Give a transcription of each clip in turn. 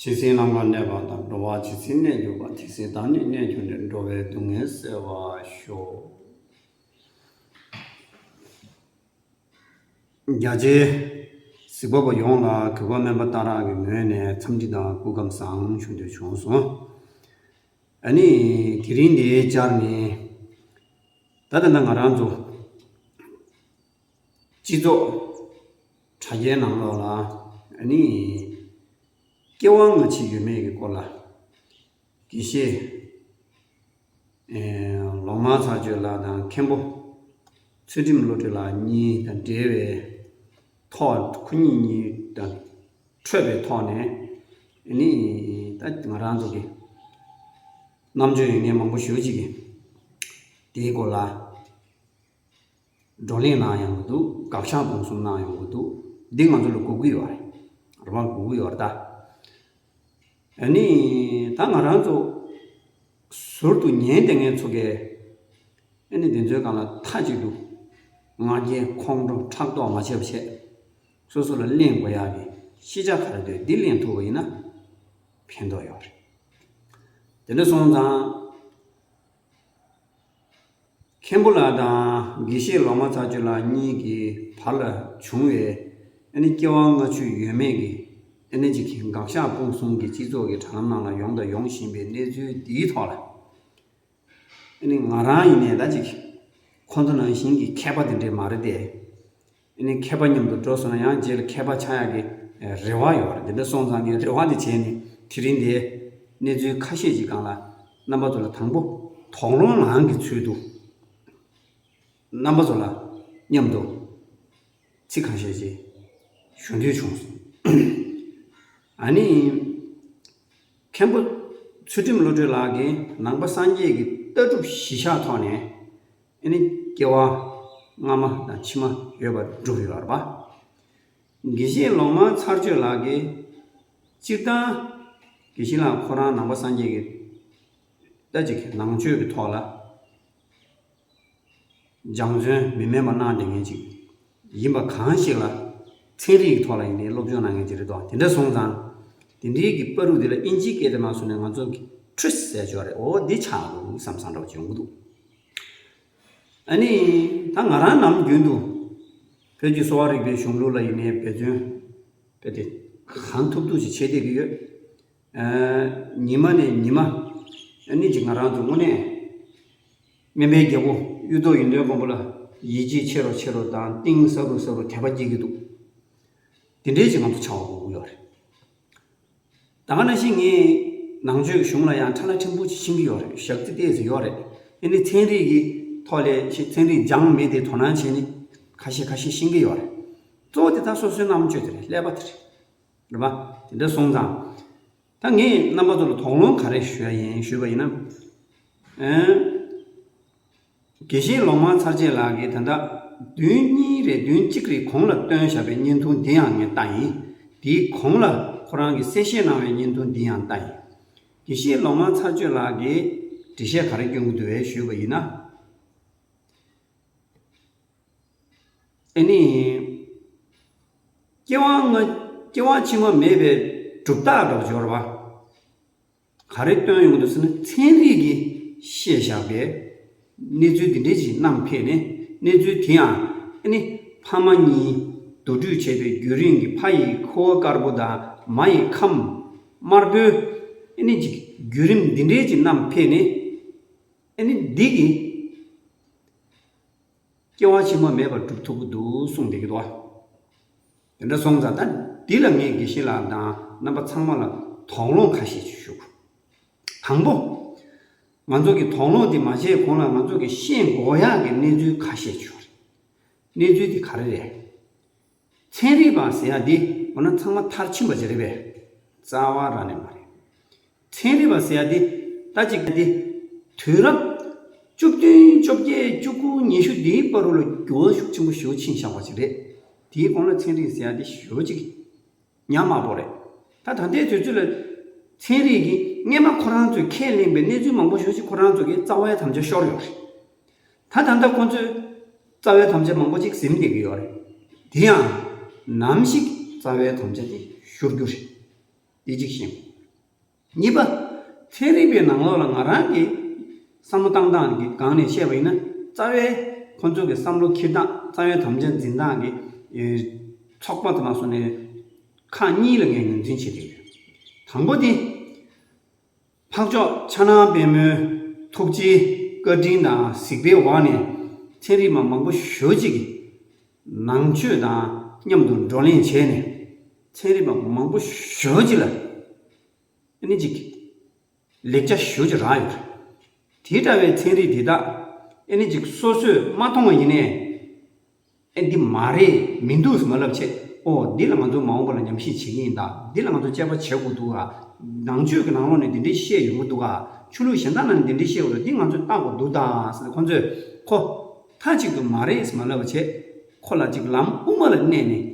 ཇི་སྲིད་ནམ་མཁའ་གནས་པ་དང་འགྲོ་བ་ཇི་སྲིད་གནས་གྱུར་པ་དེ་སྲིད་བདག་ནི་གནས་གྱུར་ནས་འགྲོ་བའི་སྡུག་བསྔལ་སེལ་བར་ཤོག། རྒྱ་ཆེའི་གཟིགས་པ་པོ་ཡོངས་ལ་གུས་པ་དམན་པ་རྟ་རག་གི་ངོས་ནས་འཚམས་འདྲི་དང་སྐུ་ཁམས་བཟང་ཞུ་འདོད་བྱུང་སོང། ད་ནི་དེ་རིང་འདིའི་བཅར་ནི་ད་ཐེངས་ང་རང་ཚོ་སྤྱི་ཚོགས་དྲ་རྒྱའི་ནང་ལོགས་ལ་ནི། སྐྱེ་བ་སྔ་ཕྱི་ཡོད་མེད་ཀྱི་སྐོར་ལ། དགེ་བཤེས་ལོ་མང་ཚར་གཅོད་ལགས་དང་མཁན་པོ་ཚུལ་ཁྲིམས་བློ་གྲོས་ལགས་གཉིས་དང་འབྲེལ་བའི་ཐོག་ཁོ་གཉིས་གཉིས་དང་འཕྲོད་པའི་ཐོག་ནས་ནི། ད་ང་རང་ཚོ་གི་རྣམ་དཔྱོད་ཡོད་ངེས་མང་པོ་ཞུ་གཅིག་གི། དེའི་སྐོར་ལ། བགྲོ་གླེང་གནང་ཡོང་གི་འདུག་དགག་བྱ་སྤོང་གསུམ་གནང་ཡོང་གི་འདུག་འདི་ང་ཚོ་ལ་གོ་གི་ཡོད་རེད། རང་གོ་གི་ཡོད་རེད་ད། ད་ང་རང་ཚོ་ཟུར་དུ་ཉན་དེ་ངས་ཚོ་གས་ཨ་ནི་འདི་ཚོའི་སྒང་ལ་མཐའ་གཅིག་ཏུ་ང་རྒྱལ་ཁོང་ཁྲོ་ཕྲག་དོག་མ་བྱེད་པ་བྱས། སོ་སོ་ལ་གླེང་དགོས་ཡག་གི་ཤེས་བྱ་ག་རེ་འདོད་འདི་གླེང་ཐུབ་པ་ཡིན་ན་ཕན་ཐོག་ཡོད་རེད། དེ་འདྲ་སོང་ཙང། མཁན་པོ་ལགས་དང་དགེ་བཤེས་ལོ་མ་ཚ་ཆུ་ལགས་གཉིས་ཀྱི་བར་ལ་བྱུང་བའི་ཨ་ནི་སྐྱེ་བ་སྔ་ཕྱི་ཡོད་མེད་ཀྱི་ཨ་ནི་གཅིག་གི་འགག་ཤ་སྤུངས་གསུམ་གྱི་སྤྱི་ཚོགས་ཀྱི་དྲ་ལམ་ནང་ལ་ཡོང་དང་ཡོང་བཞིན་པའི་གནས་ཚུལ་འདིའི་ཐོག་ལ་ཨ་ནི་ང་རང་ཡིན་ནའི་ད་ཅིག་ཁོང་ཚོ་ནང་བཞིན་གྱི་མཁས་པ་དེ་འདྲས་མ་རེད་དེ། ཨེ་ནས་མཁས་པ་མཉམ་དུ་འགྲོ་སོང་ན་ཡང་རྗེས་ལ་མཁས་པ་ཆགས་ཡག་གི་རེ་བ་ཡོད་རེད་འདི་འདྲ་སོང་ཙང་ངས་རེ་བ་འདི་བྱས་ནས་དེ་རིང་འདིའི་གནས་ཚུལ་ཁ་ཤས་ཅིག་གང་ལ་རྣམ་པ་ཚོ་ལ་དང་པོ་དོགས་སློང་ངང་གི་ཚུལ་དུ་རྣམ་པ་ཚོ་ལ་མཉམ་དུ་ཚིག་གང་ཤས་ཅིག་ཞུ་འདོད་བྱུང་སོང། ཨ་ནི། མཁན་པོ་ཚུལ་ཁྲིམས་བློ་གྲོས་ལགས་ཀྱིས་ནང་པ་སངས་རྒྱས་ཀྱི་ལྟ་གྲུབ་གཞི་ཆགས་ཐོག་ནས་ཨེ་ནི་སྐྱེ་བ། སྔ་མ་དང་ཕྱི་མ་ཡོད་པར་སྒྲུབ་པའི་བར་པ། དགེ་བཤེས་ལོ་མང་ཚར་གཅོད་ལགས་ཀྱིས། སྤྱིར་བཏང། དགེ་བཤེས་ལགས་ཁོ་རང་ནང་པ་སངས་རྒྱས་ཀྱི། ལྟ་ཅིག་ནང་ཆོས་ཀྱི་ཐོག་ལ། སྦྱང་བརྩོན་མི་དམན་པ་གནང་དེ་ངེས་ཅིག། ཡིན་པ་གང་ཞིག་ལ། ཚན་རིག་གི་ཐོག་ལ་ཡིན་ནའི་སློབ་སྦྱོང་གནང་མཁན་གྱི་རེ་དོགས་དེ་འདྲ་སོང་ཙང། དེ་འདྲིའི་གི་པར་རུ་དེ་ལ་ཨིན་ཇིའི་སྐད་དེ་མ་གསུངས་ནས་ང་ཚོ་གི Tris ཟས་ཆོག་རེད་ཨོ་འདི་ཆགས་འདུག་བསམ་བསམ་འདྲ་བ་འབྱུང་གི་འདུག། ཨ་ནི། ད་ང་རང་ནམ་རྒྱུན་དུ། བོད་ཀྱི་གསོ་བ་རིག་པའི་གཞུང་ལུགས་ལ་ཡིན་ནའི་འབད་བརྩོན། གལ་ཏེ། གང་ཐུབ་ཐུབ་ཅིག་བྱེད་བསྡད་ཀྱི་ཡོད། ཉི་མ་ནས་ཉི་མ་གཉིས་ཀྱི་ང་རང་དུ་དངོས་གནས་སྨན་པའི་རྒྱལ་པོ་གཡུ་ཐོག་ཡུན་དོན་མགོན་པོ་ལ་ཡིད་ཆེས་ཆེ་རུ་ཆེ་རུ་དང་གཏིང་ཟབ་རུ་ཟབ་རུ་དད་པ་སྐྱེ་གི་འདུག་དེ་འདྲའི་ཞིག་ང་ཚོ་ཆགས་འོང་གི་ཡོད་རེད། ད་ག་ན་བཞིན་ངས་ནང་ཆོས་གཞུང་ལ་ཡང་ཁྲ་ལ་ཕྲན་བུ་ཞིག་ཕྱིན་གི་ཡོད་རེད་ཞག་རྩི་ལྟས་སུ་ཡོད་རེད། དེ་ནི་ཚན་རིག་གི་ཐོག་ལས་ཤིག་ཚན་རིག་སྦྱང་མི་དེ་དོ་སྣང་བྱས་ནས་ཁ་ཤས་ཁ་ཤས་ཤེས་ཀྱི་ཡོད་རེད། གཙོ་བོ་དེ་དག་སོ་སོའི་རྣམ་དཔྱོད་དེ་རེད་ཀླད་པ་དེ་རེད། རེད་པ། དེ་འདྲ་སོང་ཙང། ད་ངས་རྣམ་པ་ཚོ་ལ་དོགས་སློང་ག་རེ་ཞུ་ཡ་ཡིན་ཞུས་པ་ཡིན་ན། དགེ་བཤེས་ལོ་མང་ཚར་རྗེས་ལགས་ཀྱིས་ད་ལྟ་བདུན་གཉིས་རེད་བདུན་གཅིག་རེད་གོང་ལ་བཏོན་བཞག་པའི་བརྙན་ཐུང་འདི་ཡང་ངས་བལྟ་ཡིན། དེའི་གོང་ལ་ཁོ་རང་གིས་གསལ་བཤད་གནང་བའི་བརྙན་ཐུང་འདི་ཡང་བལྟ་ཡིན། དགེ་བཤེས་ལོ་མང་ཚར་གཅོད་ལགས་ཀྱིས་འབྲི་བཤད་ག་རེ་སྐྱོན་གྱི་འདུག་བས་ཞུས་པ་ཡིན་ན། དེ་ནི། སྐྱེ་བ་སྔ་སྐྱེ་བ་ཕྱི་མ་མེད་པའི་གྲུབ་རྟགས་སྒྲོགས་སྦྱོར་བ། ག་རེ་སྟོན་ཡོང་དུ་ཟེར་ན་ཚན་རིག་གིས་བཤད་བཞག་པའི་གནས་ཚུལ་འདི་འདྲའི་ཞིག་བསྣམས་ཕེབས་ནས་གནས་ཚུལ་དེ་ཡང་ཨ་ནི་ཕ་མ་གཉིས་བསྡུ་སྤྲོད་བྱས་པའི་རྒྱུན་རིང་གི་ཕ་ཡི་ཁུ་བ་དཀར་པོ་དང་མ་ཡི་ཁམས་དམར་པོའི་ཨ་ནི་ཀྱི་བརྒྱུད་རིམ་འདི་འདྲའི་ཅིག་བསྣམས་ཕེབས་ནས་ཨ་ནི་འདི་གི། སྐྱེ་བ་ཕྱི་མ་མེད་པར་སྒྲུབ་ཐུབ་ཀྱི་འདུག་གསུངས་བསྡད་ཀྱི་འདུག་དེ་འདྲ་སོང་ཙང་ད་འདི་ལ་ངས་དགེ་བཤེས་ལགས་དང་རྣམ་པ་ཚང་མ་ལ་དོགས་སློང་ཁ་ཤས་ཞུ། དང་པོ། ང་ཚོ་གི་དོགས་སློང་དེ་མ་བྱས་གོང་ལ་ང་ཚོ་གི་ཤེས་མགོ་ཡག་གི་གནས་ཚུལ་ཁ་ཤས་བྱུང་རེད། གནས་ཚུལ་དེ་ག་རེ་རེད། ཚན་རིག་པ་ཟེར་ཡ་འདི་འོ་ན་ཚང་མ་མཐར་ཕྱིན་པ་ཅིག་རེད་པས་རྩ་བ་ར་ནས་མ་རེད། ཚན་རིག་པ་ཟེར་ཡ་འདི་ཟླ་གཅིག་འདི་དུས་རབས་བཅུ་བདུན་བཅོ་བརྒྱད་བཅུ་དགུ་ཉི་ཤུ་འདིའི་པར་རོ་ལ་འགྱུར་བ་ཤུགས་ཆེན་པོ་ཞུགས་ཕྱིན་བཞག་པ་ཅིག་རེད། དེའི་གོང་ལ་ཚན་རིག་ཟེར་ཡ་འདི་ཞོལ་གཅིག་གི། ཉག་མ་པོ་རེད། ད་ད་ལྟའི་དུས་ཚོད་ལ། ཚན་རིག་གིས་རྔན་མ་ཁོ་རང་ཚོས་ཁས་ལེན་པའི་གནས་ཚུལ་མང་པོ་ཞོག་ཅིག་ཁོ་རང་ཚོ་གི་རྩ་བའི་དམ་བཅའ་ཤོར་ཡོག་རེད། ད་ད་ལྟ་ཁོ་ཚོས་རྩ་བའི་དམ་བཅའ་མང་པོ་ཅིག་ཟིམ་བསྡད་ཀྱི་ཡོག་རེད། དེ་ཡང། ནམ་ཞིག་རྩ་བའི་དམ་བཅའ་དེ་ཤོར་རྒྱུ་རེད། དེ་གཅིག་བཞིན། གཉིས་པ། ཚན་རིག་པའི་ནང་ལོགས་ལ་ང་རང་གིས་བསམ་བློ་བཏང་སྟངས་ཀྱི་སྒང་ནས་བཤད་པ་ཡིན་ན། རྩ་བའི་ཁོ་ཚོ་གི་བསམ་བློ་འཁྱེར་སྟངས་རྩ་བའི་དམ་བཅའ་འཛིན་སྟངས་ཀྱི་ཚོགས་པ་དེ་ལ་སོང་ནས་ཁག་གཉིས་ལ་ངས་ངོས་འཛིན་བྱེད་ཀྱི་ཡོད། དང་པོ་དེ། འཕགས་མཆོག་ཕྱྭ་ནང་དཔལ་མོའི་ཐུགས་རྗེའི་བཀའ་དྲིན་དང་གཟིགས་པའི་འོག་ནས་ཚན་རིག་མ་མང་པོ་ཞོལ་གཅིག་གིས་ནང་ཆོས་དང་མཉམ་དུ་བགྲོ་གླེང་བྱས་ནས། ཚན་རིག་པ་མང་པོ་ཞུ་རྒྱུ་ལ་ནི་ཅིག་ལེགས་ཆ་ཞུ་རྒྱུ་རང་ཡོད། དེ་འདྲ་བའི་ཚན་རིག་འདི་དག་ནི་ཅིག་སོ་སོས་མ་མཐོང་བ་ཡིན་ནས། འདི་མ་རེད་མི་འདུག་ཟེར་མ་ལབ་ཆེད་ཨོ་འདི་ལ་ང་ཚོ་མ་འོངས་པ་ལ་ཉམས་ཞིབ་བྱེད་ཀྱི་ཡིན་ད་འདི་ལ་ང་ཚོ་དཔྱད་པ་བྱེད་དགོས་འདུག་ཨ། ནང་ཆོས་ཀྱི་ནང་ལོགས་ནས་འདི་འདྲའི་བཤད་ཡོང་གི་འདུག་ཨ། ཆོས་ལུགས་གཞན་དག་ནང་ནས་འདི་འདྲའི་བཤད་ཡོད་ལ་འདི་ང་ཚོས་བརྟག་དགོས་འདུག་ད་ཟེར་ནས་ཁོ་ཚོས་ཁོ་མཐའ་གཅིག་ཏུ་མ་རེད་ཟེར་མ་ལབ་བྱེད་ཁོ་ལ་ཅིག་ལམ་དབུ་མ་ལ་གནས་ནས་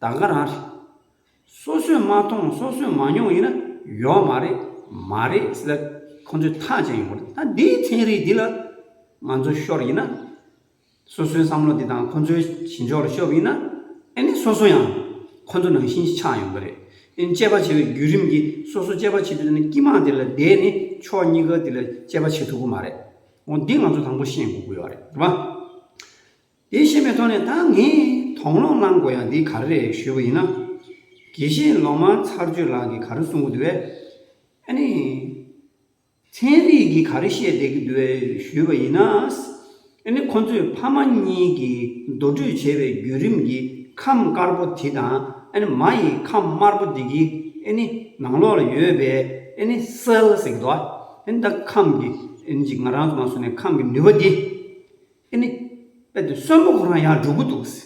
ད་ག་རང་རེད། སོ་སོས་མ་མཐོང་སོ་སོས་མ་མྱོང་ཡིན་ན་ཡོད་མ་རེད་མ་རེད་ཟེར་ད་ཁོང་ཚོས་ཐག་བཅད་ཡོང་གི་རེད་ད་འདིའི་ཚན་རིག་འདི་ལ་ང་ཚོ་ཤོར་ཡིན་ན། སོ་སོའི་བསམ་བློ་དེ་དང་ཁོང་ཚོའི་བྱེད་འཇོག་ལ་ཤོར་བ་ཡིན་ན། ཨེ་ནི་སོ་སོ་ཡང་ཁོང་ཚོ་ནང་བཞིན་ཆགས་ཡོང་གི་རེད། ཨེ་ནི་དཔྱད་པ་བྱེད་པའི་བརྒྱུད་རིམ་གྱི་སོ་སོ་དཔྱད་པ་བྱེད་དུས་ནི་སྐྱི་དམག་དེ་ལ་བསྡད་ནས་ཕྱོགས་གཉིས་ཀ་དེ་ལ་དཔྱད་པ་བྱེད་ཐུབ་གི་མ་རེད། འོ་འདི་ང་ཚོ་དང་པོ་ཤེས་དགོས་ཀྱི་ཡོད་རེད་མ། དེ་ཤེས་པའི་ཐོག་ནས་ད་ངས་དོགས་སློང་བསླང་དགོས་ཡག་འདི་ག་རེ་རེད་ཞུས་པ་ཡིན་ན། དགེ་བཤེས་ལོ་མང་ཚར་གཅོད་ལགས་ཀྱིས་ག་རེ་གསུང་གི་འདུག་བས། ཨ་ནི། ཚན་རིག་གིས་ག་རེ་བཤད་བསྡད་ཀྱི་འདུག་བས་ཞུས་པ་ཡིན་ན། ཨ་ནི་ཁོ་ཚོས་ཕ་མ་གཉིས་ཀྱིས་མདོ་སྤྲོད་བྱས་པའི་བརྒྱུད་རིམ་གྱི་ཁམས་དཀར་པོ་དེ་དང་ཨ་ནི་མ་ཡི་ཁམས་དམར་པོ་དེ་གྱི་ཨ་ནི་ནང་ལོགས་ལ་ཡོད་པའི་ཨ་ནི་སེལ་ཟེར་གི་འདུག་བས། ད་ཁམས་ཀྱི་ཨ་ནི་གཅིག་ང་རང་ཚོ་མ་སོང་ནས་ཁམས་ཀྱི་ནུས་པ་འདི། ཨེ་ནི། དཔེ་དེ་གསོན་པོ་ཁོ་རང་ཡང་འགྲོ་གི་འདུག་གསི།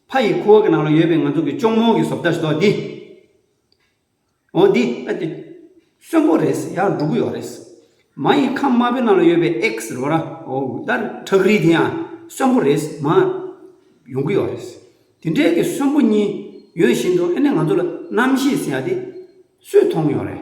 ཕ་ཡི་ཁུ་བ་གི་ནང་ལ་ཡོད་པའི་ང་ཚོ་གི་ཅོང་མོང་གི་བཟོ་བལྟ་ཞིག་དོགས་འདི། འོ་འདི་དཔེ་དེ། གསོན་པོ་རེད་གསི་ཡང་འགྲོ་གི་ཡོག་རེད་གསི། མ་ཡི་ཁམས་དམར་པོའི་ནང་ལ་ཡོད་པའི་ཨེག་གསི་རོ་ར་འོ་ད་ཁྲག་རིལ་དེ་ཡང་གསོན་པོ་རེད་གསི་མ། ཡོང་གི་ཡོག་རེད་གསི། དེ་འདྲའི་གི་གསོན་པོ་གཉིས་ཡོད་བཞིན་དུ་ཨེ་ནི་ང་ཚོ་ལ་རྣམ་ཤེས་གསི་ཡ་དེ། སུས་མཐོང་ཡོག་རེད།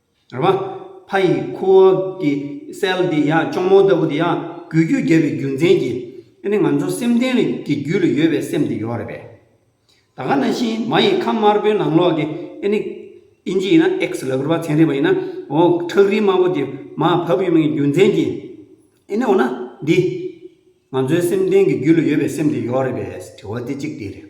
རེད་བ། ཕ་ཡི་ཁུ་བ་གི་སེལ་འདི་ཡང་གཅོང་མོ་ལྟ་བུ་འདི་ཡང་འགུལ་སྐྱོད་བརྒྱབ་པའི་རྒྱུ་མཚན་གྱིས་ཨེ་ནི་ང་ཚོ་སེམས་གཏིང་གི་རྒྱུད་ལ་ཡོད་པའི་སེམས་འདི་ཡོད་རེད་བས། ད་ག་ན་བཞིན་མ་ཡི་ཁམས་དམར་པོའི་ནང་ལོགས་ཀྱི་ཨེ་ནི། ཨིན་ཇི་ཡིན་ན་ཨེག་སི་ལ་ཁུར་བ་ཚན་རིག་པ་ཡིན་ན་འོ་ཁྲག་རིལ་དམར་པོ་དེ་མ་བབས་ཡོད་མིན་གྱི་རྒྱུ་མཚན་གྱིས་ཨེ་ནི་འོ་ན་འདི། ང་ཚོའི་སེམས་གཏིང་གི་རྒྱུད་ལ་ཡོད་པའི་སེམས་འདི་ཡོད་རེད་བས་དྲི་བ་དེ་གཅིག་དེ་རེད།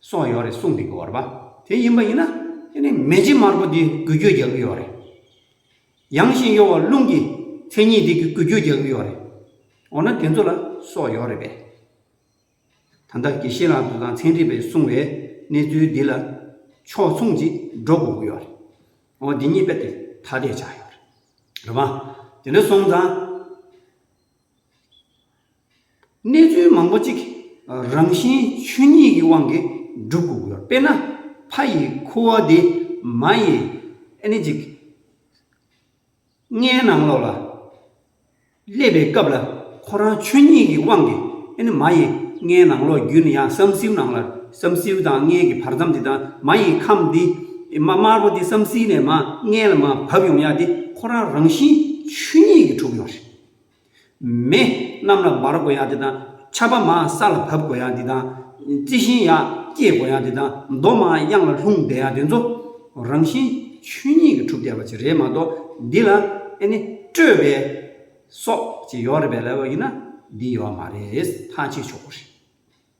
སོགས་ཡོད་རེད་གསུངས་འདུག་གི་བར་པ་དེ་ཡིན་པ་ཡིན་ན་དེ་ནི་མེ་ལྕེ་དམར་པོ་འདི་འགུལ་སྐྱོད་རྒྱག་གི་ཡོད་རེད། ཡངས་ཤིང་གཡོ་བ་རླུང་གི་མཚན་ཉིད་འདི་འགུལ་སྐྱོད་རྒྱག་གི་ཡོད་རེད། འོ་ན་དེ་ཚོ་ལ་སོགས་ཡོད་རེད་པས། ད་ལྟ་དགེ་བཤེས་ལགས་དང་ཚན་རིག་པས་གསུངས་བའི་གནས་ཚུལ་འདི་ལ་ཕྱོགས་མཚུངས་ཅིག་འགྲོ་དགོས་ཀྱི་ཡོད་རེད། འོ་འདི་གཉིས་དཔེ་དེ་ཐ་དད་ཆགས་ཡོད་རེད། རེད་མ། དེ་འདྲ་སོང་ཙང། གནས་ཚུལ་མང་པོ་གཅིག་རང་བཞིན་ཆོས་ཉིད་ཀྱི་དབང་གིས་འགྲུབ་དགོས་དགོས་དཔེར་ན། ཕ་ཡི་ཁུ་བ་འདི་མ་ཡི་ཨནི་ཅིག། ལྔའི་ནང་ལོགས་ལ་སླེབས་པའི་སྐབས་ལ་ཁོ་རང་ཆོས་ཉིད་ཀྱི་དབང་གིས་ཨནི་མ་ཡི་ལྔའི་ནང་ལོགས་བརྒྱུད་ནས་ཡང་བསམ་སེའུ་ནང་ལ་བསམ་སེའུ་དང་ལྔའི་གི་བར་མཚམས་འདི་དང་མ་ཡི་ཁམས་འདི་མ་དམར་པོ་འདི་བསམ་སེའི་ནས་མ་ལྔའི་ལ་མ་བབས་ཡོང་ཡ་འདི་ཁོ་རང་རང་བཞིན་ཆོས་ཉིད་ཀྱིས་གྲུབ་ཡོང་རེད། མེ། གནམ་ལ་འབར་དགོས་ཡག་འདི་དང། ཆར་པ་མང་ས་ལ་བབས་དགོས་ཡག་འདི་དང། རྩི་ཤིང་ཡག་སྐྱེས་དགོས་ཡག་འདི་དང། རྡོ་མང་གཡང་ལ་ལྷུང་བསྡད་ཡག་འདི་ཚོ། རང་བཞིན་ཆོས་ཉིད་ཀྱི་གྲུབ་བསྡད་པ་ཅིག་རེད་མ་གཏོགས་འདི་ལ་ཨེ་ནི་སྤྲོས་པའི། སོགས་ཅིག་ཡོག་རེད་པས་ལེ་ལོ་ཡིན་ན་འདི་ཡོག་མ་རེད་ཐག་གཅིག་ཆོག་གོ་རེད།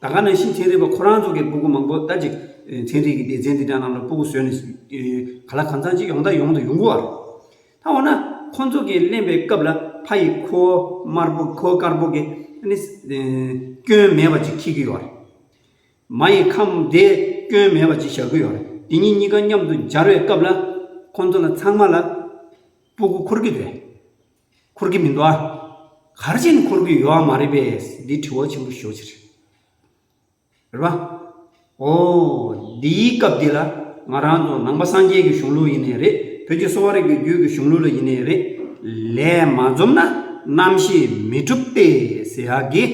ད་ག་ནང་བཞིན་ཚན་རིག་པ་ཁོ་རང་ཚོ་གི་སྤུ་གུ་མང་པོ་ལྟ་ཅིག་ཚན་རིག་གི་སྡེ་ཚན་འདི་འདྲ་རྣམས་ལ་སྤུ་གུ་བཟོས་ནས་ག་ལ་གང་ཚང་ཅིག་ཡོང་ད་ཡོང་དུ་ཡོང་གི་བ་རེད། ད་འོ་ན་ཁོ་ཚོ་གི་གླེན་པའི་སྐབས་ལ་ཕ་ཡི་ཁོ་དམར་པོ་ཁོ་དཀར་པོ་གི་སྐྱོན་མེད་པ་ཅིག་ཁྱི་གི་བ་རེད། མ་ཡི་ཁམས་བདེ་སྐྱོན་མེད་པ་ཅིག་བཞག་གི་བ་རེད། དེ་གཉིས་གཉིས་ཀ་མཉམ་དུ་སྦྱར་བའི་སྐབས་ལ་ཁོ་ཚོ་ལ་ཚང་མ་ལ་སྤུ་གུ་འཁོར་གི་རེད། འཁོར་གྱི་མི་འདུག་ཨ། གར་ཅན་འཁོར་གྱི་ཡོད་མ་རེད་པས་འདི་དྲི་བ་ཆེན་པོ་ཞོ་ཕྱིར། རེད་པ། ཨོ། འདིའི་སྐབས་འདི་ལ་ང་རང་ཚོ་ནང་པ་སངས་རྒྱས་ཀྱི་གཞུང་ལུགས་ཡིན་ནས་རེད་བོད་ཀྱི་གསོ་བ་རིག་པའི་རྒྱུད་ཀྱི་གཞུང་ལུགས་ལ་ཡིན་ནས་རེད། ལས་མ་འཛོམས་ན་རྣམ་ཤེས་མི་གྲུབ་སྟེ་ཟེར་ཡག་གི།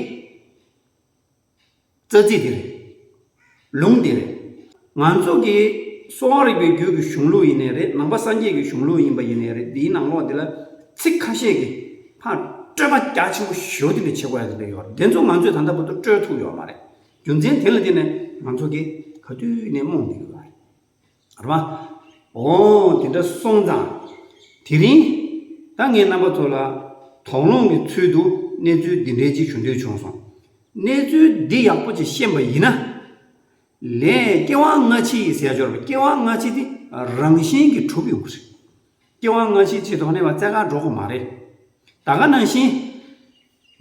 རྩ་ཚིག་འདི་རེད། ལུང་འདི་རེད། ང་ཚོ་གི་གསོ་བ་རིག་པའི་རྒྱུད་ཀྱི་གཞུང་ལུགས་ཡིན་ནའི་རེད་ནང་པ་སངས་རྒྱས་ཀྱི་གཞུང་ལུགས་ཡིན་པ་ཡིན་ནའི་རེད་འདིའི་ནང་ལོགས་འདི་ལ་ཚིག་ཁ་ཤས་ཀྱིས་ཕར་སྤྲོས་པ་རྒྱ་ཆེན་པོ་ཞོ་ཏི་ལས་བྱེད་དགོས་ཡ་གི་འདི་ཡོད་རེད་འདི་ཚོ་ང་ཚོས་ད་ལྟ་བར་དུ་སྤྲོས་ཐུབ་ཡོད་མ་རེད་རྒྱུ་མཚན་དེ་ལ་བརྟེན་ནས་ང་ཚོ་གིས་ག་དུས་ནས་རྨོངས་བསྡད་ཡོད་རེད། རེད་མ་འོངས། དེ་འདྲ་སོང་ཙང། དེ་རིང། ད་ངས་རྣམ་པ་ཚོ་ལ། དོགས་སློང་གི་ཚུལ་དུ་གནས་ཚུལ་འདི་འདྲའི་ཅིག་ཞུ་འདོད་བྱུང་སོང། གནས་ཚུལ་འདི་ཡག་པོ་ཅིག་ཤེས་པ་ཡིན་ན། ལན། སྐྱེ་བ་སྔ་ཕྱི་ཡི་ཟས་སྦྱོར་བ་སྐྱེ་བ་སྔ་ཕྱི་དེ་རང་བཞིན་གྱིས་གྲུབ་ཡོང་གི་རེད། སྐྱེ་བ་སྔ་ཕྱི་ཆེད་དོགས་ནས་བ་བཙལ་ཁ་འགྲོ་གི་མ་རེད། ད་ག་ནང་བཞིན།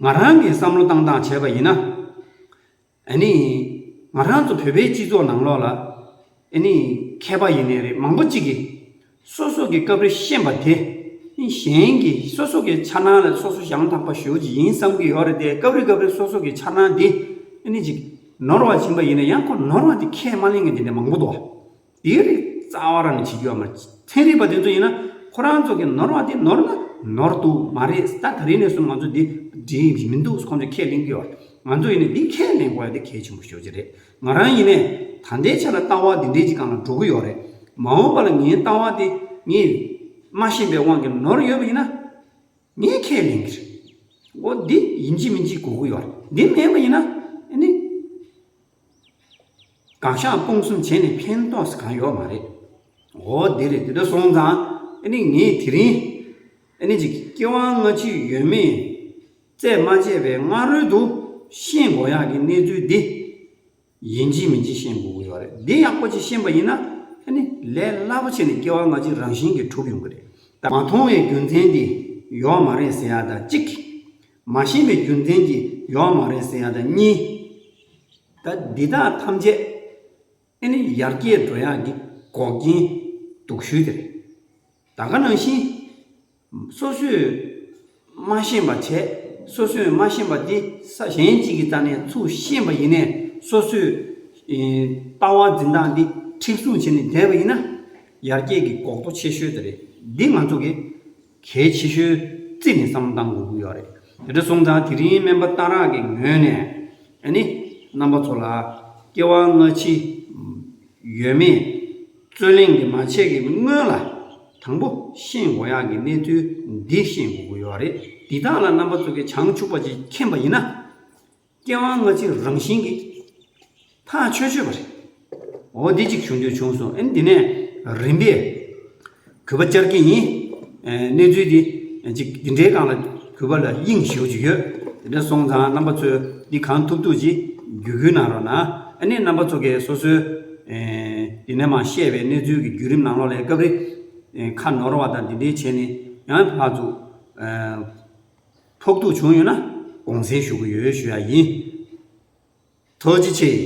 ང་རང་གིས་བསམ་བློ་བཏང་བཏང་བྱས་པ་ཡིན་ན། ཨཱ་ནི། ང་རང་ཚོ་བོད་པའི་སྤྱི་ཚོགས་ནང་ལོགས་ལ། ཨཱ་ནི། མཁས་པ་ཡིན་ནི་རེད་མང་པོ་གཅིག་གིས། སོ་སོ་གི་སྐབས་རེ་ཤེས་པ་དེ། གཞན་གྱི་སོ་སོ་གི་འཆར་སྣང་ལ་སོ་སོ་ཞང་དག་པ་ཞུ་གི་ཡིན་བསམ་གི་ཡོད་རེད་དེ་སྐབས་རེ་སྐབས་རེ་སོ་སོ་གི་འཆར་སྣང་དེ། ཨཱ་ནི། ཅིག་ནོར་བ་བྱིན་པ་ཡིན་ན་ཡང་ཁོ་ནོར་བ་དེ་ཁས་མ་ལེན་མཁན་དེ་འདྲ་མང་པོ་འདུག། དེའི་རིགས་རྩ་བ་རང་བྱེད་རྒྱུ་བ་མ། ཚན་རིག་པ་དེ་ཚོ་ཡིན་ན་ཁོ་རང་ཚོ་གི་ནོར་བ་དེ་ནོར་ན་ནོར་འདུག་མ་རེད་ད་ག་རེ་ནས་བཟུང་ང་ཚོ་འདི་འདྲི་ཡི་མི་འདུག་ཁོང་ཚོས་ཁས་ལེན་གི་བ། ང་ཚོ་ཡིན་ན་འདི་ཁས་ལེན་དགོས་འདི་གལ་ཆེན་པོ་ཤོས་ཅིག་རེད་ང་རང་ཡིན་ནས་ད་ལྟའི་ཆ་ལ་ལྟ་བ་འདི་འདྲའི་གཅིག་གང་ལ་འགྲོ་གི་ཡོད་རེད་མ་འོངས་པ་ལ་ངའི་ལྟ་བ་དེ་ངས་སྨྲ་ཞེན་པའི་དབང་གིས་ནོར་ཡོད་པ་ཡིན་ན་ངས་ཁས་ལེན་གི་རེད་འོ་འདི་ཡིན་གྱི་མིན་གྱི་གོ་གི་ཡོད་རེད་འདི་མེད་པ་ཡིན་ན་ཨ་ནི། གང་ཤག་སྤོང་གསུམ་བྱས་ནས་ཕན་ཐོགས་གང་ཡོད་མ་རེད། འོ་དེ་རེད་དེ་འདྲ་སོང་ཙང་ངས་དེ་རིང་གི་སྐྱེ་བ་སྔ་ཕྱི་ཡོད་མེད་རྩད་མ་བཅད་པའི་སྔ་རོལ་དུ་ཤེས་དགོས་ཡག་གི་གནས་ཚུལ་འདི་ཡིན་གྱི་མིན་གྱི་ཤེས་དགོས་ཀྱི་ཡོད་རེད། འདི་ཡག་པོ་ཅིག་ཤེས་པ་ཡིན་ན་ལས་སླ་པོ་ཆེ་ནི་སྐྱེ་བ་སྔ་ཕྱི་རང་བཞིན་གྱིས་གྲུབ་ཡོང་གི་རེད། མ་མཐོང་བའི་རྒྱུ་མཚན་དེ་ཡོད་མ་རེད་ཟེར་ཡག་ད་གཅིག། མ་ཤེས་པའི་རྒྱུ་མཚན་གྱིས་ཡོད་མ་རེད་ཟེར་ཡ་ད་གཉིས། ད་འདི་དག་ཐམས་ཅད་ཨེ་ནི་ཡར་རྒྱས་འགྲོ་ཡག་གི་འགོག་རྐྱེན་དུག་ཤུལ་དེ་རེད། ད་ག་ནང་བཞིན་སོ་སོས་མ་ཤེས་པ་བྱས་སོ་སོས་མ་ཤེས་པ་དེ་ས་གཞན་གཅིག་གི་རྩ་ནས་ཚུར་ཤེས་པ་ཡིན་ནས་སོ་སོས་ལྟ་བ་འཛིན་སྟངས་འདི་མཁྲེགས་བཟུང་བྱས་ནས་བསྡད་པ་ཡིན་ན་ཡར་རྒྱས་ཀྱི་འགོག་རྡོ་ཆེ་ཤོས་དེ་རེད་འདི་ང་ཚོ་གི་གལ་ཆེ་ཤོས་རྩིས་ནས་བསམ་བཏང་དགོས་ཀྱི་ཡོད་རེད། དེ་འདྲ་སོང་ཙང་དེ་རིང་སྨན་པ་གཏང་རག་གི་ངོས་ནས་ནི་རྣམ་པ་ཚོ་ལ་སྐྱེ་བ་སྔ་ཕྱི་ཡོད་མེད་རྩོད་གླེང་གི་མ་བྱས་ཀྱི་སྔོན་ལ་དང་པོ་ཤེས་དགོས་ཡག་གི་གནས་ཚུལ་འདི་ཤེས་དགོས་ཀྱི་ཡོད་རེད། འདི་དག་ལ་རྣམ་པ་ཚོ་གི་བྱང་ཆུབ་པ་ཅིག་མཁྱེན་པ་ཡིན་ན། སྐྱེ་བ་སྔ་ཕྱི་རང་བཞིན་གྱིས། ཐག་ཆོད་ཆོད་པ་རེད། འོ་དེ་གཅིག་བྱུང་དེ་བྱུང་གསུངས་ཨེ་འདི་ནས་རིམ་པས་གུས་པ་བཅར་གྱི་ཡིན། གནས་ཚུལ་འདི་གཅིག་འདི་འདྲའི་སྒང་ལ་གུས་པ་ལ་དབྱིངས་ཞུ་བྱུ་ཡོད། དེ་འདྲ་སོང་ཙང་རྣམ་པ་ཚོས་འདི་གང་ཐུབ་ཐུབ་ཅིག་བརྒྱུད་བསྐུལ་གནང་རོགས་གནང། ཨ་ནི་རྣམ་པ་ཚོ་གས་སོ་སོའི་འདི་ནས་མ་བཤད་པའི་གནས་ཚུལ་གྱི་བརྒྱུད་རིམ་ནང་ལོགས་ལས་སྐབས་རེ་ཁ་ནོར་བ་དང་འདི་འདྲའི་བྱས་ནས་ཡང་ཕར་ཚུར། ཐོབ་ཐུག་བྱུང་ཡོད་ན་དགོངས་སེལ་ཞུ་གི་ཡོད་ཞུ་ཡ་ཡིན། ཐོལ་སྤྱི་ཆེ།